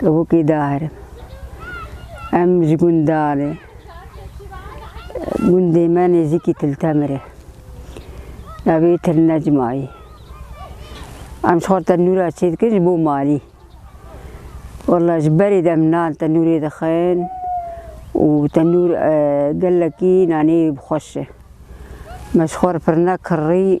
Kevokê dahirim. Em ji gundanê. Gundê me nêzîkî Tiltemirê. Navê Til Necmayî. Em ji xwe tenûra çê dikin ji bo malî. Walla ji berê de em nan tenûrê dixin û tenûr gelekî nanê xweş e. Me ji xwe re pirnek kirrî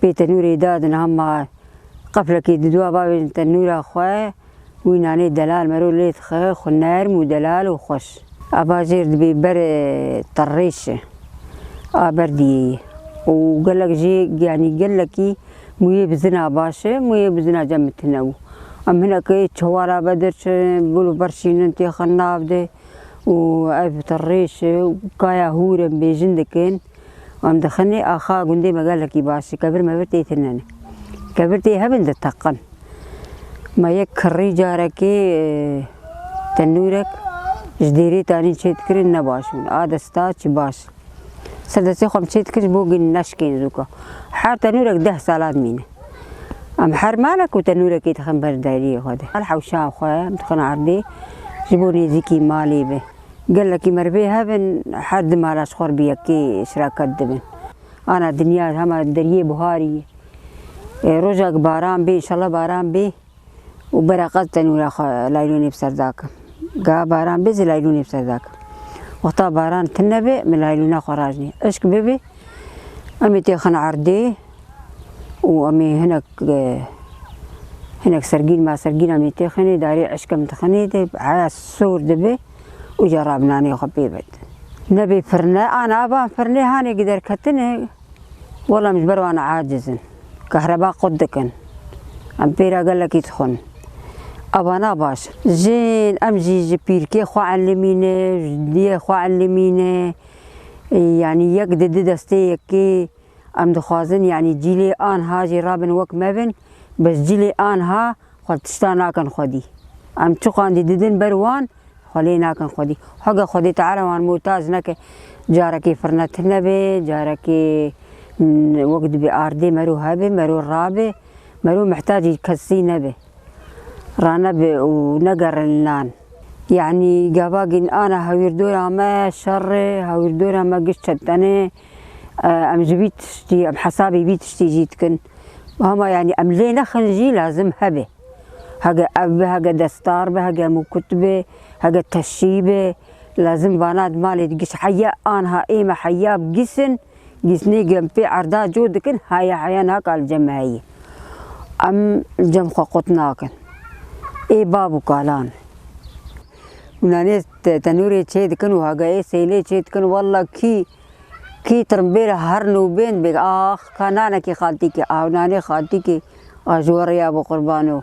pê tenûrê da di niha ma qeflekê diduwa bavêjin tenûra xwe wî nanê delal mero lê dixe xwe nerm û delal û xweş. A bajêr dibê ber terrêşe a berdiyê ye û gelek jê yanî gelekî mûyê bi zina baş e mûyê bi zina cem bi ti ne û em hinekê çewala be derçin bol û ber şînin têxin nav de û ev terrêşe û kaya hûr em bêjin dikin. Em dixin ê axa gundê me gelekî baş e. Kebir mebir tê tinenê. Kebir tê hebin diteqin. Ma yek kirrî carekê tenûrek ji dêrê tanîn çê dikirin ne baş bûn. A desta çi baş. Ser destê xwe em çê dikirin ji bo gin neşkên zûka. Her tenûrek deh sala dimîne. Em her malek û tenûrekê dixin ber deriyê xwe de. Her hewşa xwe em dixin erdê ji bo nêzîkî malê be. Gelekî merivê hev in her di mala ji xwe re bi yekê şiraket dibin. Ana dinya hema deriyê buharî ye. Roja ku baran bê înşallah baran bê û bereqet tenûra xwe laylûnê bi ser dakim. Geha baran bê zî laylûnê bi ser dakim. Wexta baran tune be min laylûna xwe rajnê. Îşk bibe. Em ê têxin erdê û em ê hinek hinek sergîn masergîn em ê têxinê darê eşkem dixinê de heya sor dibe û ca rab nanê xwe pê bid. Nebê pirne an avan pirnê hanê gider ketine wela em ji ber wan aciz in. Kehreba qut dikin. Em pê re gelekî dixwin. Ava na baş. Jin em jî ji pîrkê xwe elimîne, ji diyê xwe elimîne. Yanî yek di di destê yekê em dixwazin yanî cîlê anha jî rabin wek me bin bes cîlê anha xwe tişta nakin xwedî. Em çiqandî didin ber wan xwe lê nakin xwedî. Hege xwedê teala wan muhtac neke. Carekê firne tune be, carekê wek dibe ardê mero hebe, mero rabe, mero mihtacî kesî nebe. Ranebe û negerin nan. Yanî gava gîn ana hewîrdora me şer e, hewîrdora me giş çentene, em ji vî tiştî, em hesabê vî tiştî jî dikin. Hema yanî em lê nexin jî lazim hebe. Hege ev be, hege destar be, hege mûkut be, hege teşî be, lazim vana di malê di giş heya anha ê me heya bi giş in. Dîsnê em pê erda cû dikin heye heye naka li cem heyî. Em li cem xwe qut nakin. Ê bav û kalan. Nanê tenûrê çê dikin û hageyê seylê çê dikin walla kî kî tirimbêl her nûbên bêk ax ka nanekî xaltîkê aw nanê xaltîkê a ji we rêya bo qurban o.